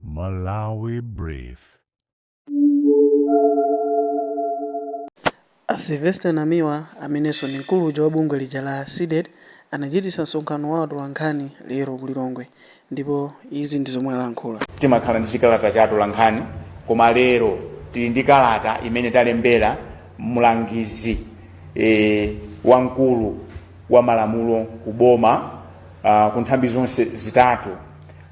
Malawi Brief. A Sylvester Namiwa, amenenso ndi mkulu uja wa bungwe lija la Cdedi, anachititsa msonkhano wa atolankhani lero ku Lilongwe ndipo izi ndi zomwe alankhula. Timakhala ndi chikalata cha atolankhani koma lero tili ndi kalata imene talembera mlangizi e, wamkulu wa malamulo ku boma ah, ku nthambi zonse zitatu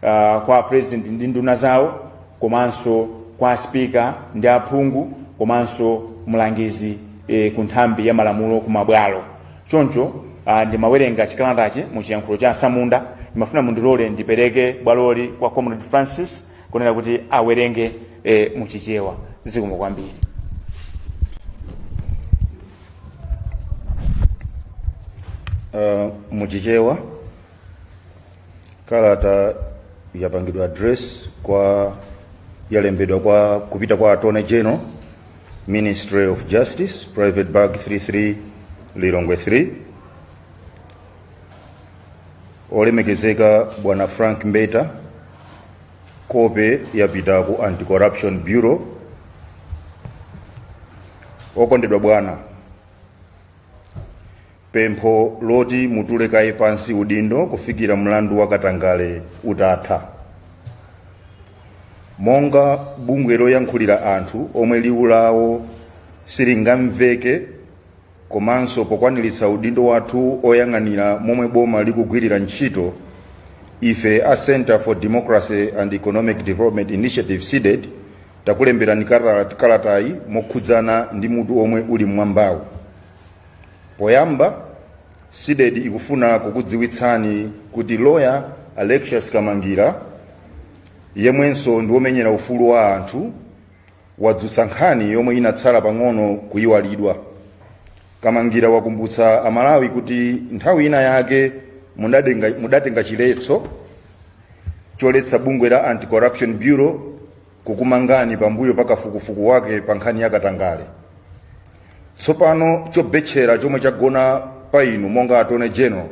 uh, kwa apresident ndi nduna zawo komanso kwa aspika ndi aphungu komanso mlangizi e, ku nthambi ya malamulo ku mabwalo choncho uh, ndimawerenga chikalatachi mu chiyankhulo cha asamunda ndimafuna mundilole ndipereke bwaloli kwa comrade francis kunena kuti awerenge e, mu chichewa zikomo kwambiri uh, muchichewa kalata yapangidwa address kwa yalembedwa kwa kupita kwa attorney general ministry of justice private bag 33 lilongwe 3 olemekezeka bwana frank mbeta kope yapita ku anti-corruption bureau okondedwa bwana Pempho loti mutule kaye pansi udindo kufikira mlandu wa katangale utatha. Monga bungwe loyankhulira anthu omwe liwu lawo silingamveke komanso pokwaniritsa udindo wathu oyang'anira momwe boma likugwirira ntchito, ife a Centre for Democracy and Economic Development Initiative CDEDI takulemberani kalatayi mokhudzana ndi mutu omwe uli m'mwambawu. Poyamba, Cdedi ikufuna kukudziwitsani kuti loya Alexious Kamangira, yemwenso ndi womenyera ufulu wa anthu, wadzutsa nkhani yomwe inatsala pang'ono kuyiwalidwa. Kamangira wakumbutsa a Malawi kuti nthawi ina yake mudatenga chiletso choletsa bungwe la Anti-Corruption Bureau kukumangani pambuyo pa kafukufuku wake pa nkhani ya katangale. Tsopano chobetchera chomwe chagona pa inu monga attorney general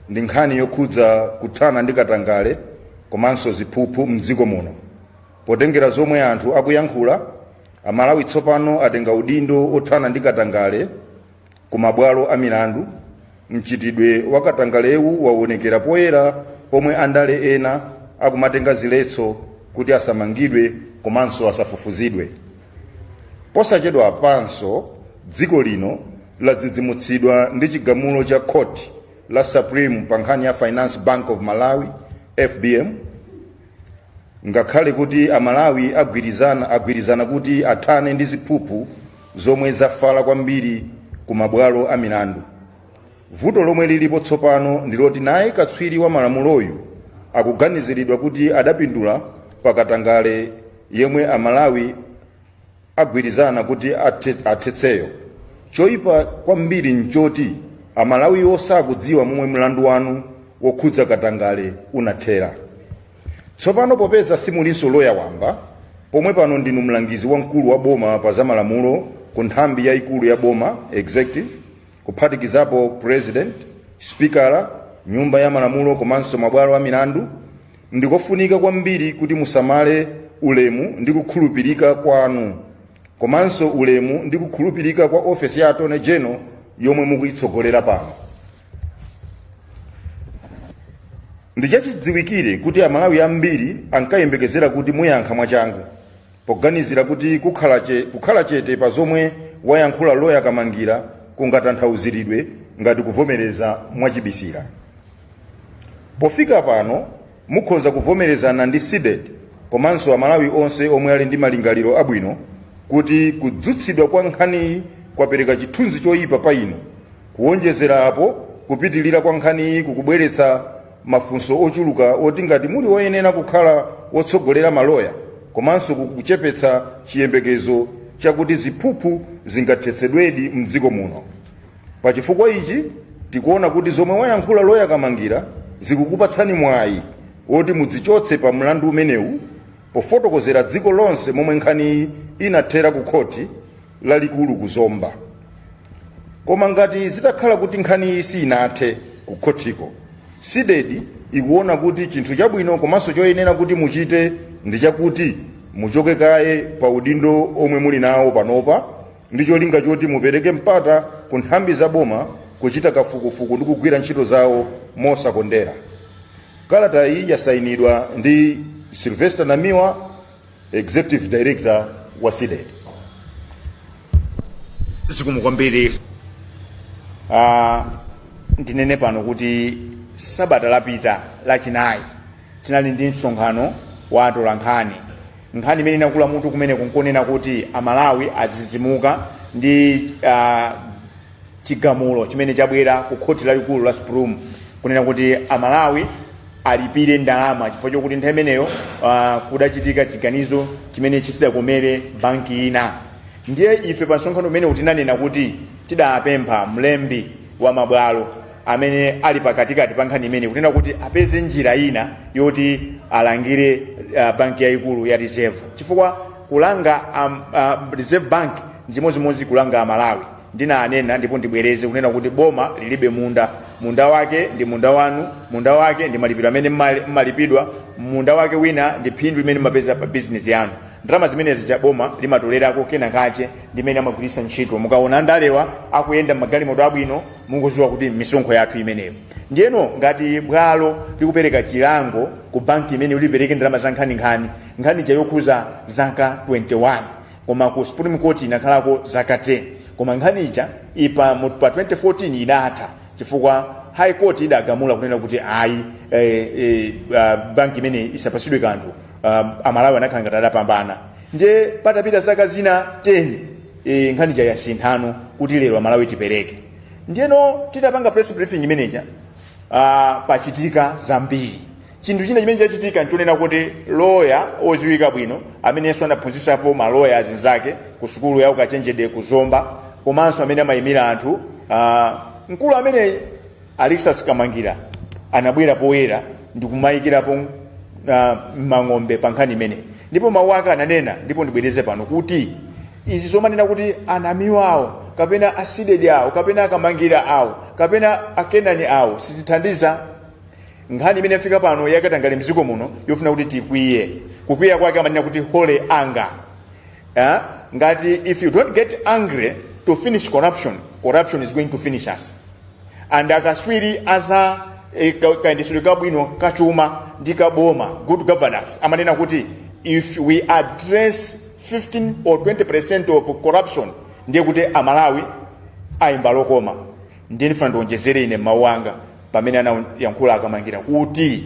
ndi nkhani yokhudza kuthana ndi katangale komanso ziphuphu mdziko muno. Potengera zomwe anthu akuyankhula, Amalawi tsopano atenga udindo othana ndi katangale ku mabwalo a milandu mchitidwe wa katangalewu waonekera poyera pomwe andale ena akumatenga ziletso kuti asamangidwe komanso asafufuzidwe posachedwapanso dziko lino ladzidzimutsidwa ndi chigamulo cha khoti la supreme pa nkhani ya finance bank of malawi fbm ngakhale kuti amalawi agwirizana kuti athane ndi ziphuphu zomwe zafala kwambiri ku mabwalo a milandu. Vuto lomwe lilipo tsopano ndi loti naye katswiri wa malamuloyu akuganiziridwa kuti adapindula pa katangale yemwe Amalawi agwirizana kuti athetseyo. Choipa kwambiri nchoti Amalawiwo sakudziwa momwe mlandu wanu wokhudza katangale unathera. Tsopano popeza simulinso loya wamba, pomwe pano ndinu mlangizi wamkulu wa boma pa zamalamulo ku nthambi yaikulu ya boma, executive, kuphatikizapo pulezidenti, sipikala wa nyumba ya malamulo komanso mabwalo a milandu, ndi kofunika kwambiri kuti musamale ulemu ndi kukhulupirika kwanu komanso ulemu ndi kukhulupirika kwa ofesi ya Attorney General yomwe mukuitsogolera pano. Ndi chachidziwikire kuti Amalawi ambiri ankayembekezera kuti muyankha mwachangu poganizira kuti kukhala chete pa zomwe wayankhula loya Kamangira kungatanthauziridwe ngati kuvomereza mwachibisira. Pofika pano Mukhoza kuvomerezana ndi Cdedi komanso Amalawi onse omwe ali ndi malingaliro abwino kuti kudzutsidwa kwa nkhaniyi kwapereka chithunzi choyipa pa inu. Kuwonjezera apo, kupitilira kwa nkhaniyi kukubweretsa mafunso ochuluka oti ngati muli oyenera kukhala wotsogolera maloya komanso kukuchepetsa chiyembekezo chakuti ziphuphu zingathetsedwedi m'dziko muno. Pa chifukwa ichi, tikuona kuti zomwe wayankhula loya Kamangira zikukupatsani mwayi woti mudzichotse pa mlandu umenewu pofotokozera dziko lonse momwe nkhaniyi inathera ku khoti lalikulu ku Zomba. Koma ngati zitakhala kuti nkhaniyi siinathe ku khotiko, Cdedi ikuona kuti chinthu chabwino komanso choyenera kuti muchite ndi chakuti muchoke kaye pa udindo omwe muli nawo panopa, ndi cholinga choti mupereke mpata ku nthambi za boma kuchita kafukufuku ndi kugwira ntchito zawo mosakondera kalata iyi yasayinidwa ndi sylvester namiwa executive director wa cdedi zikomo kwambiri Ah, ndinene pano kuti sabata lapita lachinayi tinali ndi msonkhano wa atolankhani Nkhani imene inakula mutu kumeneko nkonena kuti Amalawi azizimuka ndi uh, chigamulo chimene chabwera ku khoti lalikulu la Supreme kunena kuti Amalawi alipire ndalama chifukwa chokuti nthawi imeneyo uh, kudachitika chiganizo chimene chisidakomere banki ina. Ndiye ife pa msonkhano umene uja tinanena kuti tidapempha mlembi wa mabwalo amene ali pakatikati pa nkhani imene kunena kuti apeze njira ina yoti alangire uh, banki yayikulu ya reserve chifukwa kulanga um, uh, reserve bank njimozimozi kulanga amalawi ndinanena ndipo ndibwereze kunena kuti boma lilibe munda munda wake ndi munda wanu munda wake ndi malipiro amene mmali- mmalipidwa munda wake wina ndi phindu limene mmapeza pa bizinesi yanu ndalama zimenezi cha boma limatolerako kena kache ndimene amagwiritsa ntchito mukaona andalewa akuyenda mmagalimoto abwino mungoziwa kuti misonkho yathu imeneyo ndiyeno ngati bwalo likupereka chilango ku banki imene ulipereke ndalama za nkhaninkhani nkhani ija yokhuza zaka 21 koma ku supreme court inakhalako zaka 10 koma nkhani ija pa mu- pa 2014 idatha chifukwa high court idagamula kunena kuti ayi eh, eh, ah, banki imene isapasidwe kanthu ah, amalawi anakhala ngati adapambana ndiye patapita zaka zina 10 e, nkhani ja yasinthano kuti lero amalawi tipereke ndiyeno titapanga press briefing imeneja ah, pachitika zambiri chinthu china chimene chachitika nchonena kuti loya oziwika bwino amenenso anaphunzisapo maloya azinzake ku sukulu ya ukachenjede ku zomba komanso amene amayimira anthu ah, mkulu ameneyi Alexis Kamangira anabwera poyera ndikumayikirapo uh, mang'ombe pa nkhani imeneyi ndipo mawu ake ananena ndipo ndibwereze pano kuti izi zomanena kuti anamiwa awo kapena asidedi awo kapena akamangira awo kapena akenani awo sizithandiza nkhani imene yafika pano yakatangale mdziko muno yofuna kuti tikwiye kukwiya kwake amanena kuti holy anger Eh? ngati if you don't get angry to finish corruption corruption is going to finish us and akatswiri aza eh, ka- kayendetsedwe kabwino kachuma ndi kaboma good governance amanena kuti if we address 15 or 20 percent of corruption ndiye kuti amalawi ayimba lokoma ndiye ndifuna ndionjezere ine mawu anga pamene anayankhula akamangira kuti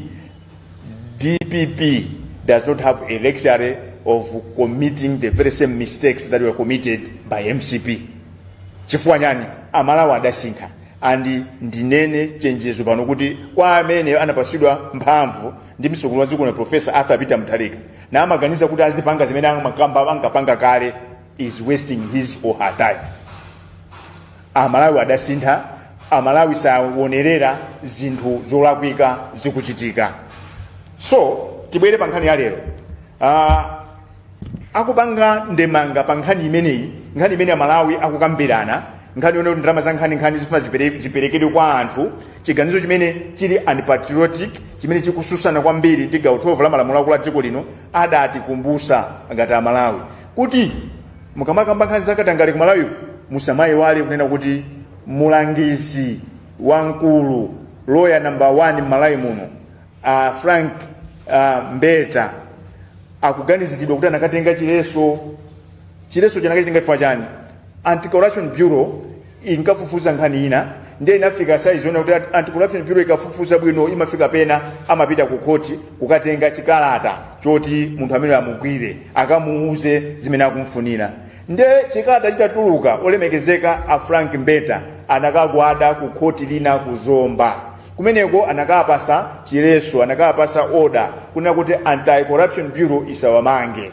dpp does not have a luxury of committing the very same mistakes that were committed by mcp chifukwa chani amalawi adasintha and ndinene chenjezo pano kuti kwa amene anapasidwa mphamvu ndi mtsogoleri wa dziko lino profesa arthur peter mutharika na amaganiza kuti azipanga zimene amakamba ankapanga kale is wasting his or her time amalawi adasintha amalawi sawonerera zinthu zolakwika zikuchitika so tibwere pa nkhani ya lero uh, akupanga ndemanga pa nkhani imeneyi nkhani imene amalawi akukambirana nkhani yonena kuti ndalama zankhaninkhani zifuna zipere- ziperekedwe kwa anthu chiganizo chimene chili unpatriotic chimene chikususana kwambiri ndi gawo 12 la malamulo akulu a dziko lino adatikumbusa ngati amalawi kuti mukamakamba nkhani za katangale ku malawi musamayiwale kunena kuti mulangizi wamkulu loya number 1 m'malawi muno a frank a mbeta akuganiziridwa kuti anakatenga chileso chileso anakachitenga chifukwa chani anti corruption bureau inkafufuza nkhani ina ndiye inafika size yonena kuti anti-corruption bureau ikafufuza bwino imafika pena amapita ku khoti kukatenga chikalata choti munthu amene amugwire akamuuze zimene akumfunira nde chikalata chitatuluka olemekezeka a frank mbeta anakagwada ku khoti lina ku zomba kumeneko anakawapasa chileso anakawapasa oda kunena kuti anti-corruption bureau isawamange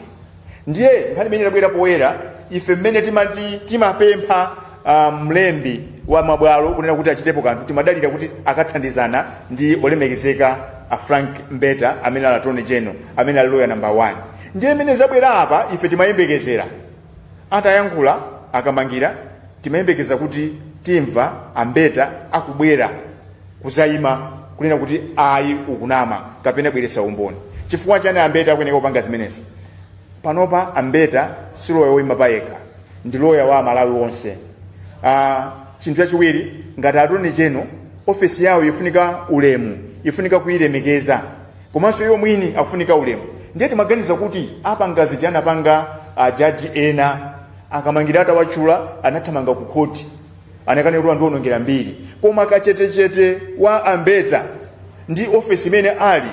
ndiye nkhani imene inabwera poyera ife mmene timati timapempha ah, mlembi wa mabwalo kunena kuti achitepo kanthu timadalira kuti akathandizana ndi olemekezeka a frank mbeta amene ali attorney general amene ali loya number 1 ndiye mmene zabwera apa ife timayembekezera atayankhula a kamangira timayembekeza kuti timva a mbeta akubwera kuzayima kunena kuti ayi ukunama kapena bweresa umboni chifukwa chani a mbeta akuyeneka kupanga zimenezo panopa a mbeta si loya woyima payekha ndi loya wa amalawi onse ah, chinthu chachiwiri ngati attorney general ofesi yawo ifunika ulemu ifunika kuyilemekeza komanso iwo mwini akufunika ulemu ndiye timaganiza kuti apanga zimene anapanga ajaji ena a kamangira atawachula anathamanga ku khoti anakanena kuti wandiwonongera mbiri koma kachetechete wa a mbeta ndi ofesi imene ali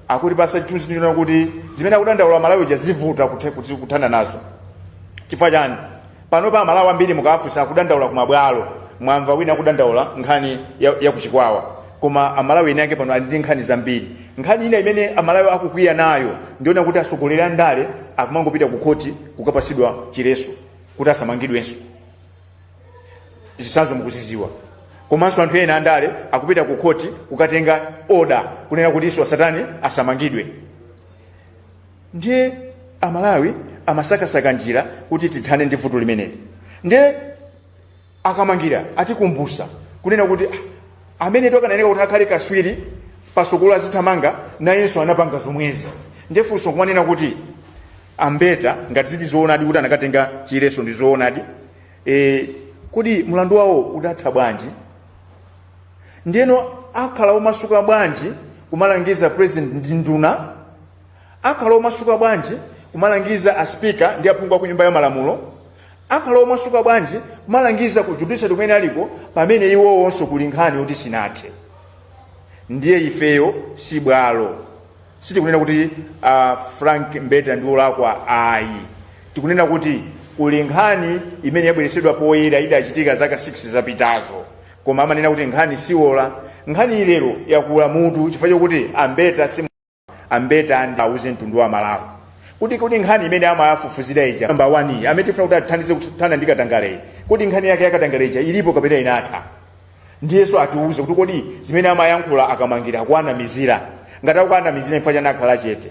akutipasa chithunzi chonena kuti zimene akudandaula amalawi zija zivuta kuthe- kuti kuthana nazo chifukwa chani panopa amalawi ambiri mukafunsa akudandaula ku mabwalo mwamva wina akudandaula nkhani ya, ya ku chikwawa koma amalawi ene ake pano ali ndi nkhani zambiri nkhani ina imene amalawi akukwiya nayo ndi yonena kuti atsogoleri a ndale akumangopita ku khoti kukapasidwa chileso kuti asamangidwenso zisanzo mukuziziwa komanso anthu ena andale akupita ku khoti kukatenga oda kunena kuti iwo asatani asamangidwe ndiye amalawi amasakasaka njira kuti tithane ndi vuto limeneli ndiye a kamangira atikumbusa kunena kuti "Ah, amene akanayeneka kuti akhale kaswiri pasogolo azithamanga nayenso anapanga zomwezi ndiye funso nkumanena kuti ambeta ngati ziti zoonadi kuti anakatenga chiletso ndi zoonadi kodi mlandu wawo udatha bwanji ndiyeno akhala omasuka bwanji kumalangiza president ndi nduna akhala omasuka bwanji kumalangiza aspika ndi aphungu aku nyumba ya malamulo akhala omasuka bwanji kumalangiza ku judiciary kumene aliko pamene iwowonso kuli nkhani yoti sinathe ndiye ifeyo si bwalo sitikunena kuti a frank mbeta ndi olakwa ayi tikunena kuti kuli nkhani imene yabweretsedwa poyera idachitika zaka 6 zapitazo koma amanena kuti nkhani siwola nkhani iyi lero yakula mutu chifukwa chokuti ambeta ambeta auze mtundu wa malawi kuti kodi nkhani imene amawafufuzira ija namba 1 amene tifuna kuti athandize kuthana ndi katangaleyi kodi nkhani yake yakatangaleyi ija ilipo kapena inatha ndiyenso atiuze kuti kodi zimene amayankhula akamangira akuwanamizira ngati akuwanamizira chifukwa chani akhala chete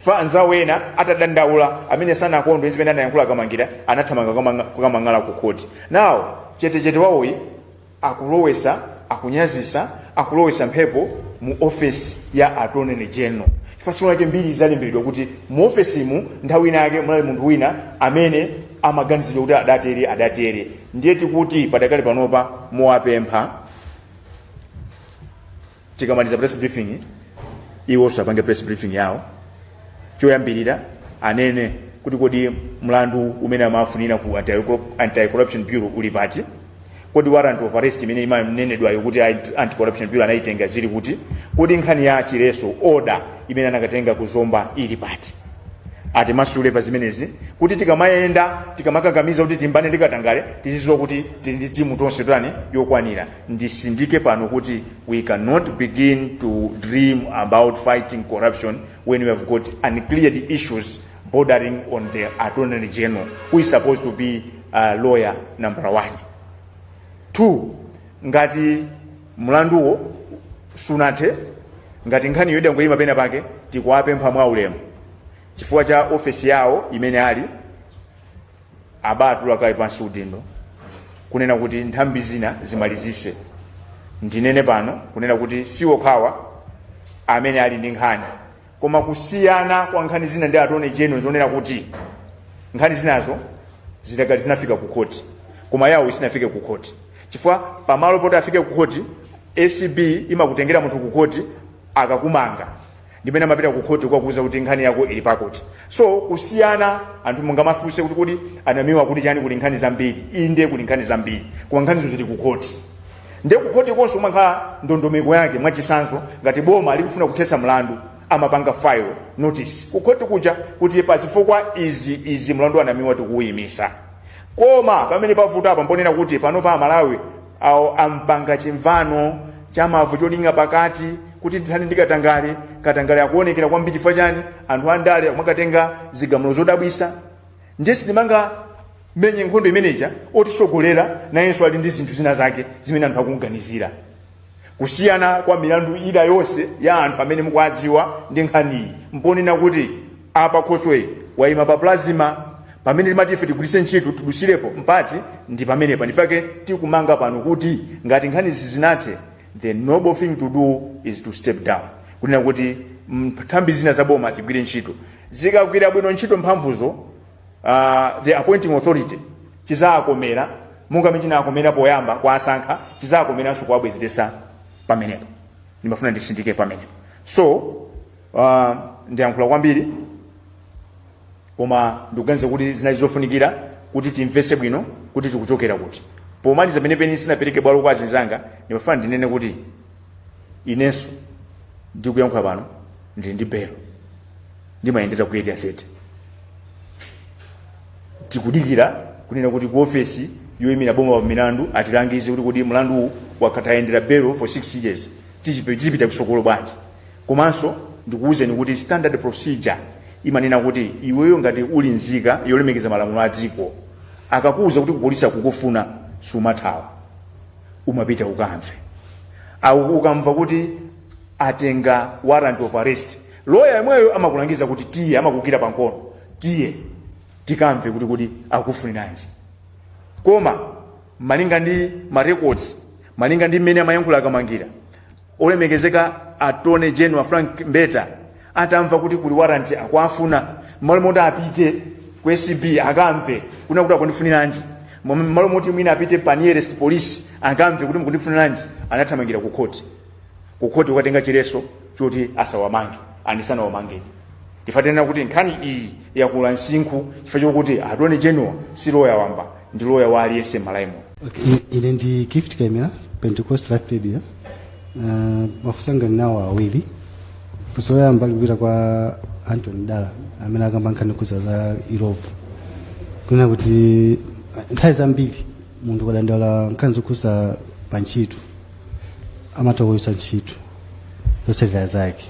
pa anzawo ena atadandaula amene sanakondwe zimene anayankhula akamangira anathamanga kukamanga- kukamang'ala ku khoti nawo chetechete wawoyi akulowetsa akunyazitsa akulowetsa mphepo mu ofesi ya attorney general chifukwa tsiku lake mbiri zalembedwa kuti mu ofesimu nthawi ina yake munali munthu wina amene amaganizidwa kuti adatere adatere ndiye tikuti padakali panopa nkuwapempha tikamaliza press briefing iwonso apange press briefing yawo choyambirira anene kuti kodi mlandu umene amawafunira ku anti-corruption bureau uli pati kodi warrant of arrest imene imanenedwayo kuti anti-corruption bureau anayitenga zili kuti kodi nkhani ya chiletso order imene anakatenga ku zomba ili pati atimasule pa zimenezi kuti tikamayenda tikamakakamiza kuti tilimbane ndi katangale tizidziwa kuti tili ndi timu tonse tani yokwanira nditsindike pano kuti we cannot begin to dream about fighting corruption when we have got uncleared issues bordering on the attorney general who is supposed to be uh, lawyer number one two ngati mlanduwo sunathe ngati nkhaniyo idangoyima pena pake tikuwapempha mwa ulemu chifukwa cha ofesi yawo imene ali abatule kaye pansi udindo kunena kuti nthambi zina zimalizitse ndinene pano kunena kuti siwokhawo amene ali ndi nkhani koma kusiyana kwa nkhani zina ndi attorney general zonena kuti nkhani zinazo zidakali zinafika ku khoti koma yawoyi sinafike ku khoti chifukwa pamalo poti afike ku khoti acb imakutengera munthu ku khoti akakumanga ndimene amapita ku khoti kukakuuza kuti nkhani yako ili pakoti so kusiyana anthu mungamafunse kuti kodi anamiwa kuti chani kuli nkhani zambiri inde kuli nkhani zambiri koma nkhanizo zili ku khoti nde kukhoti konso kumakhala ndondomeko yake mwachisanzo ngati boma likufuna kuthesa mlandu amapanga file notice kukhoti kuja kuti pazifukwa izi izi mlandu wanamiwa tikuwuyimisa koma pamene pavuta apa mponena kuti pano pa amalawi awo ampanga chimvano chamavu cholinga pakati kuti tithani ndi katangale katangale akuonekera kwambiri chifukwa chani anthu andale mwakatenga zigamulo zodabwisa ndiye sitimangamenye nkhondo imeneja wotisogolera nayenso ali ndi zinthu zina zake zimene anthu akumganizira kusiyana kwa milandu ina yonse ya anthu amene mukuwadziwa ndi nkhaniyi mponena kuti apa khoswe wayima pa plasma pamene timati ife tigwiritse ntchito tidusirepo mpati ndi pamenepa ndichifake tikumanga pano kuti ngati nkhanizi zisinathe the noble thing to do is to step down kunena kuti nthambi zina za boma zigwire ntchito zikagwira bwino ntchito mphamvuzo uh, the appointing authority chizakomera monga mmene chinakomera poyamba kuwasankha chizakomeranso kuwabwezeretsa pamenepo ndimafuna nditsindike pamenepo so uh, ndiyankhula kwambiri koma ndikuganiza kuti zinali zofunikira kuti timvese bwino kuti tikuchokera kuti pomaliza penepeni ndisanapereke bwalo kwa azinzanga ndimafuna ndinene kuti inenso ndikuyankhula pano ndili ndi belo ndimayendera ku area 30 tikudikira kunena kuti ku ofesi yoyimira boma pa milandu atilangize kuti kodi mlandu uwu wakhala tayendera belo for 6 years tipita kusogolo bwanji Komanso ndikuwuzeni kuti standard procedure imanena kuti iweyo ngati uli nzika yolemekeza malamulo a dziko akakuwuza kuti kupolisi akukufuna sumathawa umapita ukamve Au- ukamva kuti atenga warrant of arrest loya yemweyo amakulangiza kuti tiye amakugwira pankono tiye tikamve kuti kodi akufuniranji koma malinga ndi ma records malinga ndi mmene amayankhula a kamangira olemekezeka attorney general frank mbeta atamva kuti kuli waranti akuwafuna mmalo moti apite ku acb akamve kunena kuti akundifuniranji mmalo moti mwina apite pa nearest police akamve kuti mukundifuniranji anathamangira ku khoti ku khoti kukatenga chileso choti asawamange asanawamange ife tinena kuti nkhani iyi yakula msinkhu chifukwa chokuti attorney general si loya wamba ndi loya wa aliyense mmalawi muno Okay, ine ndi gift kemera pentecost life radio uh, mafunso anga ndinawo awiri funso loyamba likupita kwa antony dala amene akamba nkhani yokhuza za irovu kunena kuti nthawi zambiri munthu ukadandaula nkhani zokhudza pa ntchito amatha kuchotsa ntchito zotsatira zake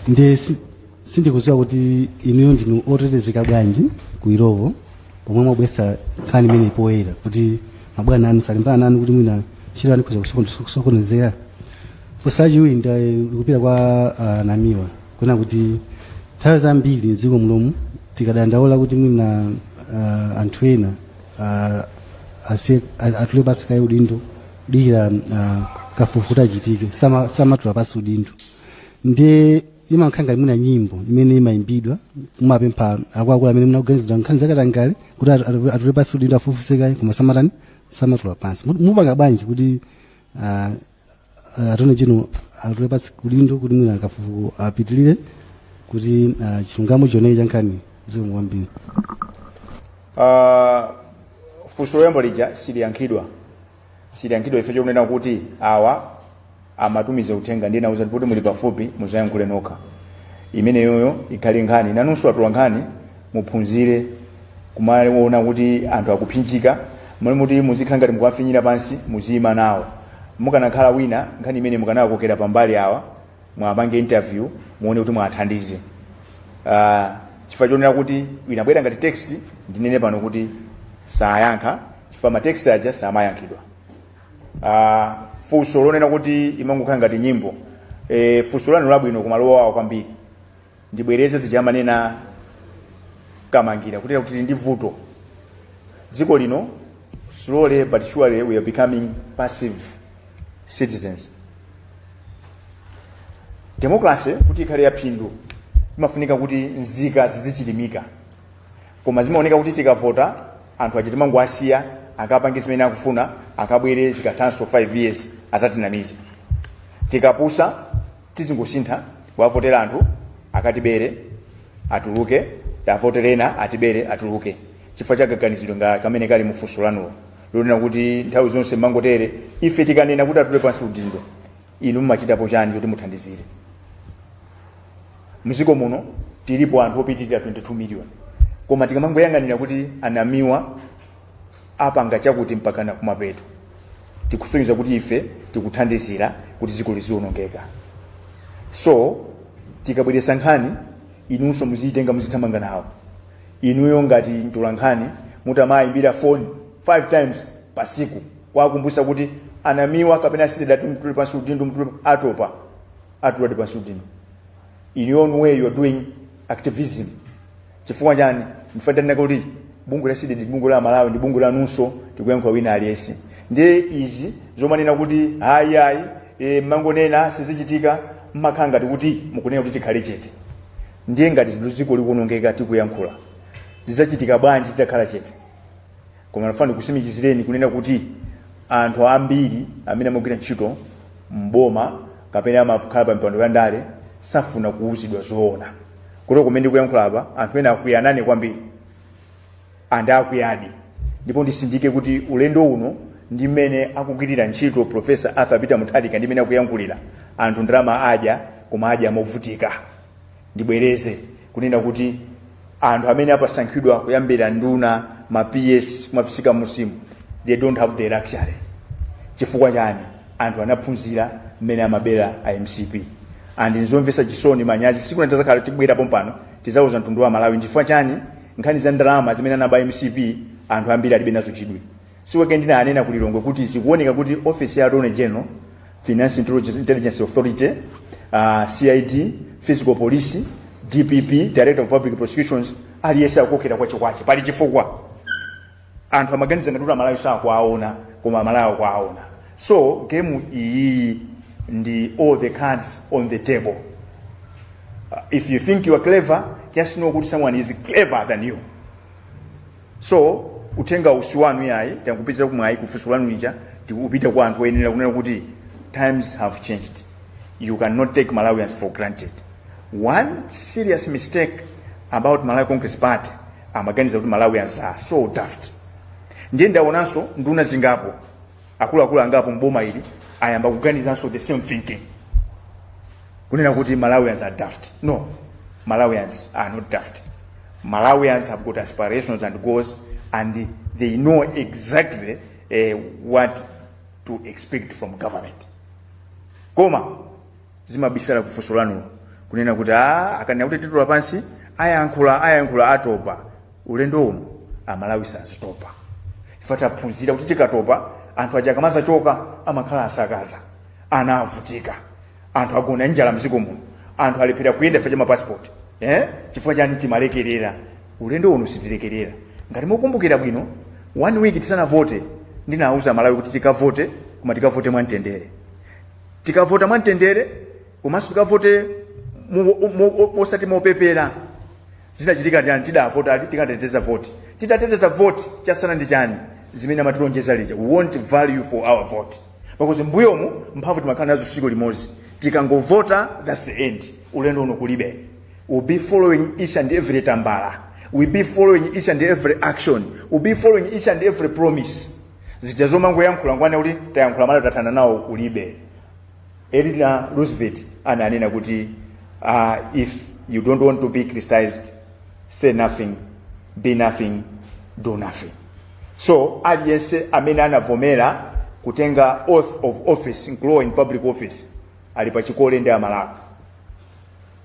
ndiye si- sindikudziwa kuti inuyo ndinu otetezeka bwanji kuyambira lero pomwe mwabwesa nkhani imeneyi poyera kuti mabwana anu salimbana nanu kuti mwina ntchito yanu ikhoza kusokon- kusokonezera funso lachiwiri likupita kwa ah, Namiwa kunena kuti nthawi zambiri mdziko munomu tikadandaula kuti mwina ah, anthu ena ah, asiye- a- atule pansi kaye udindo podikira uh, kafukufuku achitike sama- samatula pansi udindo ndiye imangokhala ngati nyimbo imene imayimbidwa kumapempha akuluakulu amene akuganiziridwa nkhani zakatangale kuti atu- atu- atule pansi udindo afufuze kaye koma samatani samatula pansi Mu- mupanga bwanji kuti ah, ah, Attorney General atule pansi udindo kuti mwina kafukufuku apitilire kuti ah, chilungamo chioneke cha nkhani zikomo kwambiri Ah, funso loyamba lija siliyankhidwa siliyankhidwa ife chokunena kuti awa amatumiza uthenga ndinawauza kuti muli pafupi muzayankhule nokha imeneyoyo ikhale nkhani nanunso atola nkhani muphunzire kumaona kuti anthu akuphinjika m'malo moti muzikhala ngati mukuwafinyira pansi muziyima nawo mukanakhala wina nkhani imene mukanakokera pambali awa muwapange interview muone kuti muwathandize uh, chifukwa chonena kuti inabwera ngati text ndinene pano kuti sayankha chifukwa ma text aja samayankhidwa uh, funso lonena kuti imangokhala ngati nyimbo e, funso lanu labwino komanso lowawa kwambiri ndibwereze zija amanena Kamangira kutere kuti tili ndi vuto dziko lino slowly but surely we are becoming passive citizens democracy kuti ikhale yaphindu imafunika kuti nzika zizichilimika koma zimaoneka kuti tikavota anthu aja timangowasiya akapange zimene akufuna akabwere zikathanso 5 years azatinamize tikapusa tizingosintha kuwavotera anthu akatibere atuluke tiwavotere ena atibere atuluke chifukwa chakaganizidwe nga kamene kali mufunso lanulo lonena kuti nthawi zonse mumangotere ife tikanena kuti atule pansi udindo inu mumachitapo chani kuti muthandizire mziko muno tilipo anthu opitirira 22 million koma tikamangoyang'anira kuti anamiwa apanga chakuti mpakana kumapeto tikusonyeza kuti ife tikuthandizira kuti dziko lizionongeka so tikabweresa nkhani inunso muziyitenga muzithamanga nawo inuyo ngati mtolankhani mutamayimbira foni 5 times pasiku kuwakumbutsa kuti anamiwa kapena a CDEDI atule pansi udindo atule atopa atuladi pansi udindo in your own way you are doing activism chifukwa chani ife tanena kuti bungwe la CDEDI ndi bungwe la amalawi ndi bungwe lanunso tikuyankhula wina aliyense ndiye izi zomanena kuti hayi hayi e, mmangonena sizichitika mmakhala ngati kuti mukunena kuti tikhale chete ndiye ngati zinthu ziko likuonongeka tikuyankhula zidzachitika bwanji titakhala chete koma ndifuna ndikusimikizireni kunena kuti anthu ambiri amene amagwira ntchito mboma kapena amakhala pa mipando ya ndale safuna kuwuzidwa zoona kuti kumene ndikuyankhula apa anthu ena akwiya nane kwambiri and akwiyadi ndipo ndisindike kuti ulendo uno ndi mmene akugwirira ntchito profesa arthur peter mutharika ndi mmene akuyankhulira anthu ndalama adya koma adya mo movutika ndibwereze kunena kuti anthu amene asankhidwa kuyambira nduna ma ps kuma parastatal mu system they don't have the luxury chifukwa chani anthu anaphunzira mmene amabera a mcp and nzomvesa chisoni manyazi siku lina tizakhala tibwera pompano tizauza mtundu wa malawi chifukwa chani nkhani za ndalama zimene anaba mcp anthu ambiri alibe nazo chidwi this week ndinanena ku lilongwe kuti zikuoneka kuti office ya attorney general finance Intelligence- intelligence authority uh, cid fiscal police dpp director of public prosecutions aliyese akukokera kwachekwache pali chifukwa anthu amaganiza ngati kuti amalawi sakuwaona koma amalawi akuwaona so game iyi ndi all the cards on the table uh, if you think you are clever just know kuti someone is clever than you So uthenga si wanu iyayi tangopezera mwayi kufunso lanu lija ukupita kwa anthu oyenera kunena kuti times have changed you cannot take malawians for granted one serious mistake about malawi congress party amaganiza kuti malawians are so daft ndiye ndaonanso nduna zingapo akuluakulu angapo mboma ili ayamba kuganizanso the same thinking kunena kuti malawians are daft no malawians are not daft malawians have got aspirations and goals and they know exactly uh, what to expect from government koma zimabisala ku funso lanulo kunena kuti a akanena kuti titule pansi ayankhula ayankhula atopa ulendo uno amalawi sazatopa ife taphunzira kuti tikatopa anthu aja akamazachoka amakhala asakaza ana avutika anthu agona njala mziko muno anthu alephera kuyenda chifukwa cha mapasipoti eh? chifukwa chani timalekerera ulendo uno sitilekerera ngati mukumbukira bwino one week tisanavote ndinauza amalawi kuti tikavote koma tikavote mwamtendere tikavota mwamtendere komanso tikavote mu- mu- mu- osati mopepera zinachitika chani tidavota ati tikateteze voti titateteza voti chasala ndi chani zimene amatilonjeza lija we want value for our vote because mbuyomu mphamvu timakhala nazo siku limodzi tikangovota thats the end ulendo uno kulibe we'll be following each and every tambala we'll be following each and every action we'll be following each and every promise zija zomangoyankhula nkhani yakuti tayankhula mawa tathana nawo kulibe Eleanor Roosevelt ananena kuti uh, if you don't want to be criticized say nothing be nothing do nothing so aliyense amene anavomera kutenga oath of office nkulowa in public office ali pachikole ndi amalawi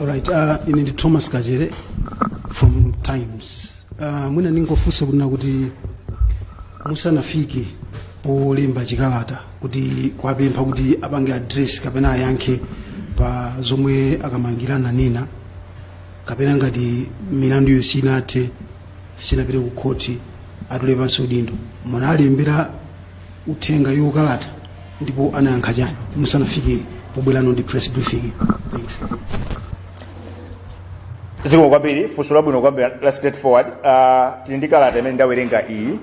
All right, uh, ine ndi Thomas Kachere from Times. Uh, mwina ndingofunsa kunena kuti musanafike polemba chikalata kuti kuwapempha kuti apange address kapena ayankhe pa zomwe akumangidwira nazo kapena ngati milandu iyo sinathe sinapite ku khoti atule pansi udindo munawalembera uthenga iwowo kalata ndipo anayankha chani musanafike pobwerano ndi press briefing thanks zikomo kwambiri funso labwino kwambiri la straight forward uh, tili ndi kalata imene ndawerenga iyi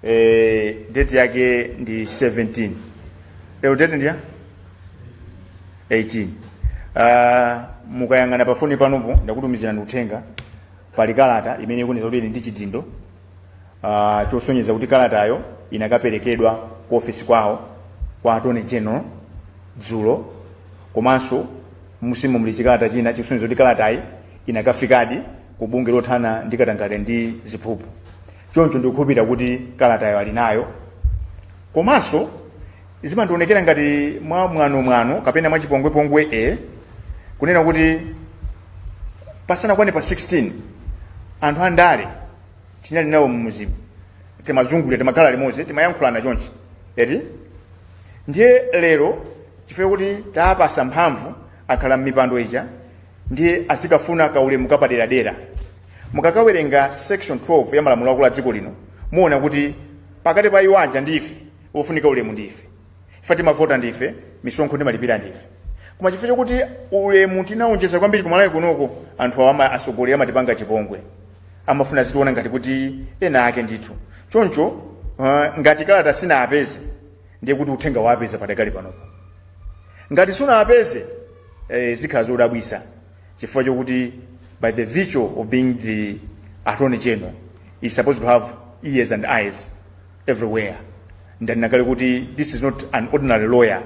eh, date yake ndi 17 lero date ndiya 18 uh, mukayang'ana pafoni panopo ndakutumizirani uthenga pali kalata imene ikunena kuti ili ndi chidindo uh, chosonyeza kuti kalatayo inakaperekedwa ku ofesi kwawo kwa attorney general dzulo komanso mumomu muli chikalata china chikusonyeza kuti kalatayi inakafikadi ku bungwe lothana ndi katangale ndi ziphuphu choncho ndikukhulupirira kuti kalatayo ali nayo komanso zimadzaonekera ngati mwa mwanomwano kapena mwa chipongwepongwe e kunena kuti pasanakwane pa 16 anthu andale tinali nawo mmudzimu timazungulira timakhala limodzi timayankhulana chonchi eti ndiye lero chifukwa kuti tawapatsa mphamvu akhala m'mipando ija ndiye azikafuna kaulemu kapaderadera mukakawerenga section 12 ya malamulo akulu a dziko lino muona kuti pakati pa iwo aja ndi ife wofunika ulemu ndi ife ife timavota ndi ife misonkho timalipira ndi ife koma chifukwa chokuti ulemu timaonjeza kwambiri kumalawi kunoko anthu awa ama- atsogoleri amatipanga chipongwe amafuna azitiona ngati kuti ena ake ndithu choncho uh, ngati kalata sinawapeze ndiye kuti uthenga uwapeza padakali panopo ngati sunawapeze eh, zikhala zodabwisa chifukwa chokuti by the virtue of being the attorney general he's supposed to have ears and eyes everywhere. Ndanena kale kuti this is not an ordinary lawyer,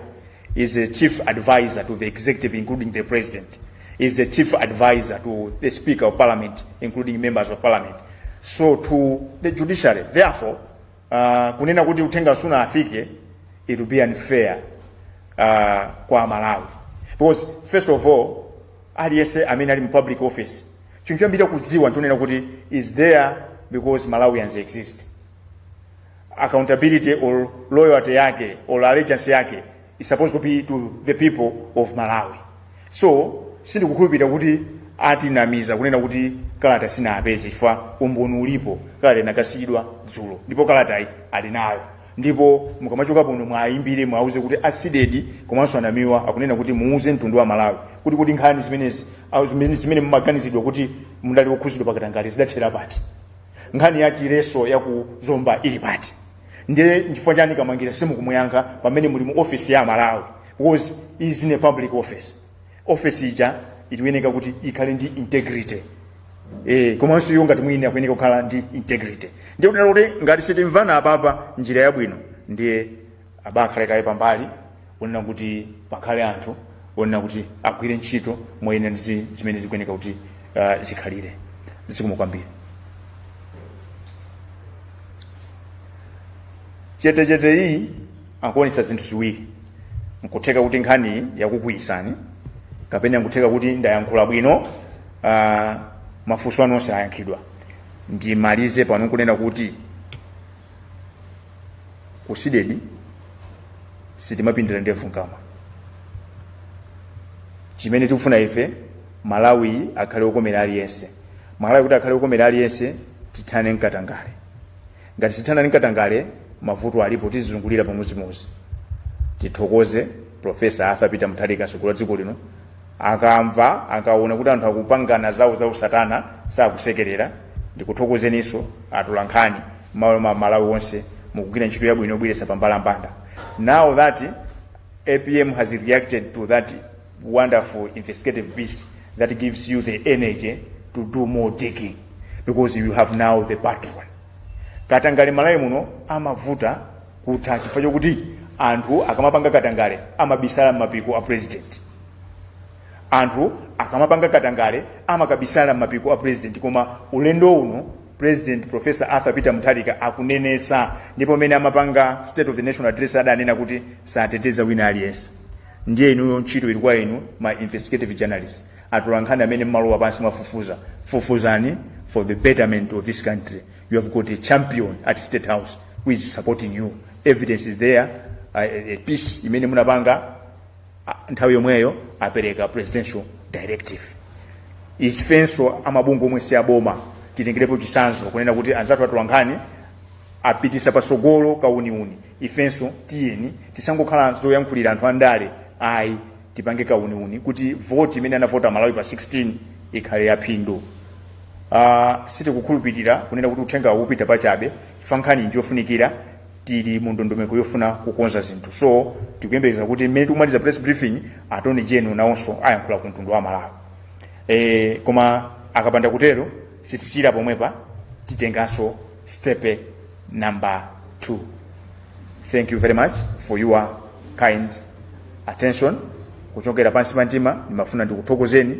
is a chief advisor to the executive including the president, is a chief advisor to the speaker of parliament including members of parliament. So to the judiciary, therefore, uh, kunena kuti uthenga suna afike, it will be unfair uh, kwa Malawi. Because first of all, aliyese amene ali mu public office chinthu chambiri kudziwa nchonena kuti is there because malawians exist accountability or loyalty yake or allegiance yake is supposed to be to the people of malawi so sindikukhulupirira kuti atinamiza kunena kuti kalata sinapeze chifukwa umboni ulipo kalata inakasiyidwa dzulo ndipo kalatayi ali nayo ndipo mukamachoka pano mwayimbire mwauze kuti a CDEDI komanso Namiwa akunena kuti muuze mtundu wa amalawi kuti kuti nkhani zimenezi ah, zimene zimene mumaganizidwa kuti mudali okhuzidwa pakatangale zidathera pati nkhani ya chileso ya ku zomba ili pati ndiye nchifukwa chani kamangira simukumuyankha pamene muli mu office ya amalawi because is in a public office office ija ikuyeneka kuti ikhale ndi integrity eh komanso iyo ngati mwini akuyeneka kukhala ndi integrity ndiye kunena kuti ngati sitimvana apapa njira yabwino ndiye abakhale kaye pambali onena kuti pakhale anthu onena kuti agwire ntchito moyenera ndi zi- zimene zikuyeneka kuti uh, zikhalire zikomo kwambiri chetechete iyi ikuonesa zinthu ziwiri nkutheka kuti nkhani yakukwiyitsani kapena nkutheka kuti ndayankhula bwino uh, mafunso anu onse ayankhidwa ndimalize pano kunena kuti ku CDEDI sitimapindira ndevu mkamwa chimene tikufuna ife malawi akhale okomera aliyense malawi kuti akhale okomera aliyense tithane ndi katangale ngati sithana ndi katangale mavuto alipo tizizungulira pamodzimodzi tithokoze profesa arthur peter mutharika mtsogoleri wa dziko lino akamva akaona kuti anthu akupangana zawo za usatana sakusekerera ndikuthokozeninso atolankhani mmalo mwa amalawi onse mukugwira ntchito yabwino yobweretsa pambalambanda now that apm has reacted to that wonderful investigative piece that gives you the energy to do more digging because you have now the patron katangale mmalawi muno amavuta kutha chifukwa chokuti anthu akamapanga katangale amabisala m'mapiko a president anthu akamapanga katangale amakabisala m'mapiko a president koma ulendo uno president professor arthur peter mutharika akunenesa ndipo mmene amapanga state of the national address adanena kuti sateteza wina aliyense ndiye inuyo ntchito ili kwa inu ma investigative journalist atolankhani amene mmalowa pansi mwafufuza fufuzani for the betterment of this country you have got a champion at state house who is supporting you evidence is there uh, a piece imene munapanga ah, nthawi yomweyo apereka presidential directive ifenso amabungwe omwe si aboma titengerepo chisanzo kunena kuti anzathu atolankhani apitise patsogolo kauniuni ifenso tiyeni tisangokhala zoyankhuliridwa anthu andale ayi tipange kauniuni kuti voti imene anavota amalawi pa 16 ikhale yaphindu uh, sitikukhulupirira kunena kuti uthenga upita pachabe chifukwa nkhani njofunikira tili mu ndondomeko yofuna kukonza zinthu so tikuyembekeza kuti mmene tikumaliza press briefing Attorney General nawonso ayankhula ku mtundu wa malawi e, koma akapanda kutero sitisiyira pomwepa titenganso step number 2 thank you very much for your kind attention kuchokera pansi pa mtima ndimafuna ndikuthokozeni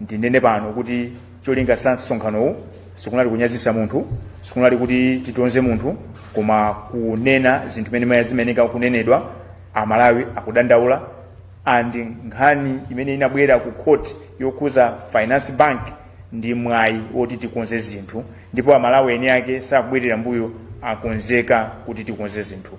ndinene pano kuti cholinga cha msonkhanowu sikunali kunyazisa munthu sikunali kuti titonze munthu koma kunena zinthu zimene zimayenera kunenedwa amalawi akudandaula and nkhani imene inabwera ku court yokhuza finance bank ndi mwayi woti tikonze zinthu ndipo amalawi eni ake sakubwerera mbuyo akonzeka kuti tikonze zinthu